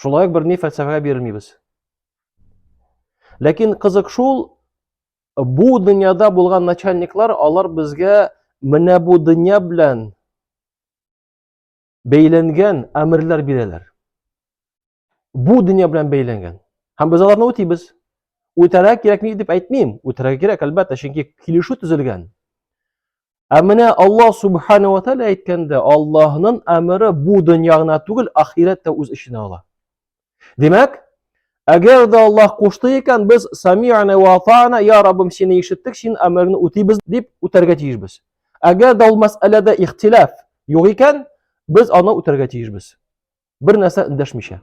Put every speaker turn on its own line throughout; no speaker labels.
Шулай ук берни фәлсәфәгә бирмибез. Ләкин кызык шул, бу дөньяда булган начальниклар, алар безгә менә бу дөнья белән бәйләнгән әмерләр бирәләр. Бу дөнья белән бәйләнгән. Һәм без аларны үтибез. Үтәргә кирәкми дип әйтмим. Үтәргә кирәк, әлбәттә, чөнки килешү төзелгән. Ә менә Аллаһ Субхану ва Тәгалә әйткәндә, Аллаһның әмере бу дөнья гына түгел, ахирәт тә үз эченә ала. Димәк, әгәр дә Аллаһ кушты икән, без сами'на ва атана, я Раббым, сине ишеттек, син әмерне үтибез дип үтәргә тиешбез. Әгәр дә ул мәсьәләдә ихтилаф юк икән, без аны үтәргә тиешбез. Бер нәрсә эндәшмичә.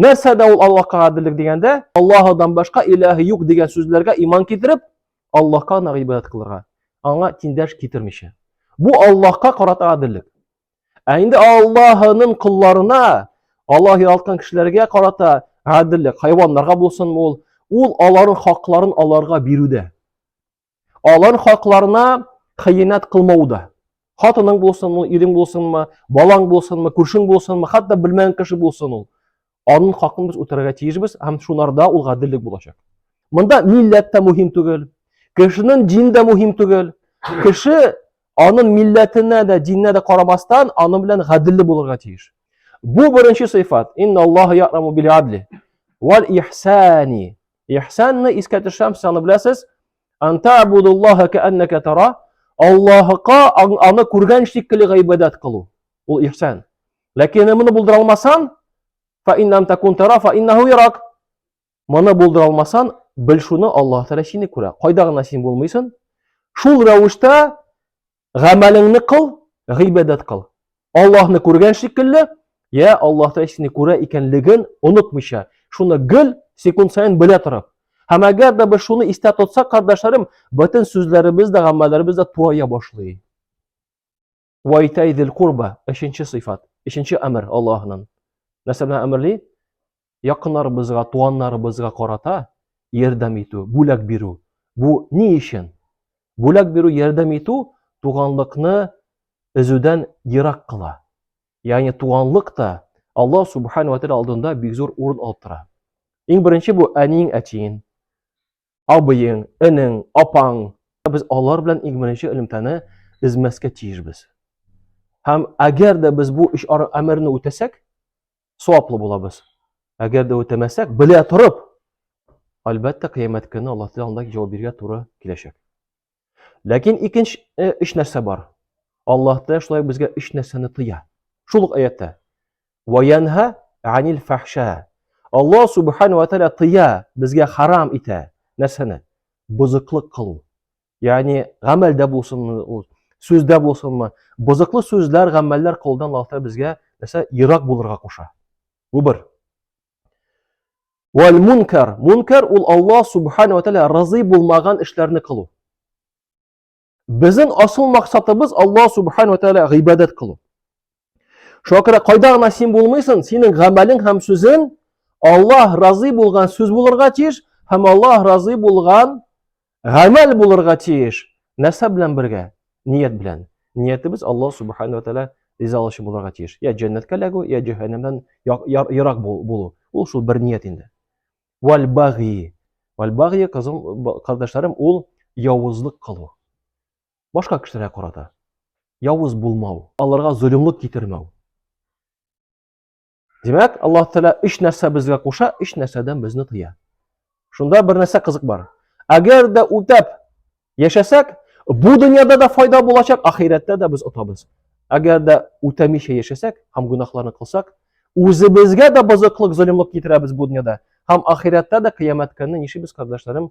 нәрсә дә ул аллаһка гаделлек дигәндә аллаһыдан башка илаһы юк дигән сүзләргә иман китереп аллаһка гына гыйбадәт кылырга аңа тиңдәш китермичә бу аллаһка карата гаделлек ә инде аллаһының колларына аллаһ яралткан кешеләргә карата гаделлек хайваннарга булсынмы ул ул аларның хакларын аларга бирүдә Алар хакларына хыянәт кылмау да. Хатының булсынмы, ирең булсынмы, балаң булсынмы, күршең булсынмы, хәтта белмәгән кеше булсын ул. Аның хакын без үтәргә тиешбез һәм шунарда ул гаделлек булачак. Монда милләт тә мөһим түгел, кешенең дин дә мөһим түгел. Кеше аның милләтенә дә, диненә дә карамастан, аның белән гаделле булырга тиеш. Бу беренче сыйфат. Инна Аллаһу яраму бил адли вал ихсани. Ихсанны искә төшәм, сез аны беләсез. Анта абудуллаха кәаннәкә тара. Аллаһыка аны күргән шикелле гыйбадәт кылу. Ул ихсан. Ләкин моны булдыра алмасаң, фа иннам такун тара, фа иннаху ярак. Моны булдыра алмасаң, бел шуны Аллаһ Тәгалә сине күрә. Кайда гына син булмыйсың? Шул рәвештә Гамәлеңне кыл, гыйбадәт кыл. Аллаһны күргән шикелле, я Аллаһ Тәгалә сине күрә икәнлеген онытмыйча, шуны гел секунд саен белә торып. Һәм әгәр дә без шуны истә тотсак, кардәшләрем, бөтен сүзләребез дә, гамәлләребез дә турая башлый. Вайтайдил курба, өченче сыйфат, өченче әмер Аллаһның. Нәрсә белән әмерли? якыннарыбызга, туганнарыбызга карата ярдәм итү, бүләк бирү. Бу ни өчен? Бүләк бирү, ярдәм итү туганлыкны өзүдән ерак кыла. Ягъни туганлык та Аллаһ субхана ва тәгалә алдында бик зур урын алып тора. Иң беренче бу әниең, әтиең, абыең, энең, апаң. Без алар белән иң беренче элемтәне эзмәскә тиешбез. Һәм әгәр дә без бу өч әмерне үтәсәк, саваплы булабыз. Әгәр дә үтәмәсәк, белә торып, әлбәттә, кыямәт көне Аллаһ Тәгалә анда җавап бирергә туры киләчәк. Ләкин икенче э, өч нәрсә бар. Аллаһ Тәгалә шулай безгә өч нәрсәне тыя. Шул ук аятта. Ваянха анил фахша. Аллаһ Субхану ва Тәгалә тыя, безгә харам итә. Нәрсәне? Бузыклык кылу. Ягъни гамәлдә булсынмы ул, сүздә булсынмы, бозыклы сүзләр, гамәлләр кылудан Аллаһ Тәгалә безгә нәрсә ерак булырга куша. Бу бер. Вал мункар. Мункар ул Аллаһ Субхану ва Тәгалә разый булмаган эшләрне кылу. Безнең асыл максатыбыз Аллаһ Субхану ва Тәгалә гыйбадәт кылу. Шуңа күрә кайда гына син булмыйсың, синең гамәлең һәм сүзең Аллаһ разый булган сүз булырга тиеш һәм Аллаһ разый булган гамәл булырга тиеш. Нәрсә белән бергә? Ният белән. Ниятебез Аллаһ субхану тәгалә ризалыгы булырга тиеш. Я җәннәткә эләгү, я җәһәннәмнән ерак булу. Ул шул бер ният инде. Валь баги. Валь баги, кызым, кардәшләрем, ул явызлык кылу. башка кешеләргә карата явыз булмау, аларга золымлык китермәү. Димәк, Аллаһ Тәгалә өч нәрсә безгә куша, өч нәрсәдән безне тыя. Шунда бер нәрсә кызык бар. Әгәр дә үтәп яшәсәк, бу дөньяда да файда булачак, ахирәттә дә без отабыз. Әгәр дә үтәмичә яшәсәк һәм гөнаһларны кылсак, үзебезгә дә бозыклык, золымлык китерәбез бу дөньяда һәм ахирәттә дә кыямәт көнне нишибез, кардәшләрем,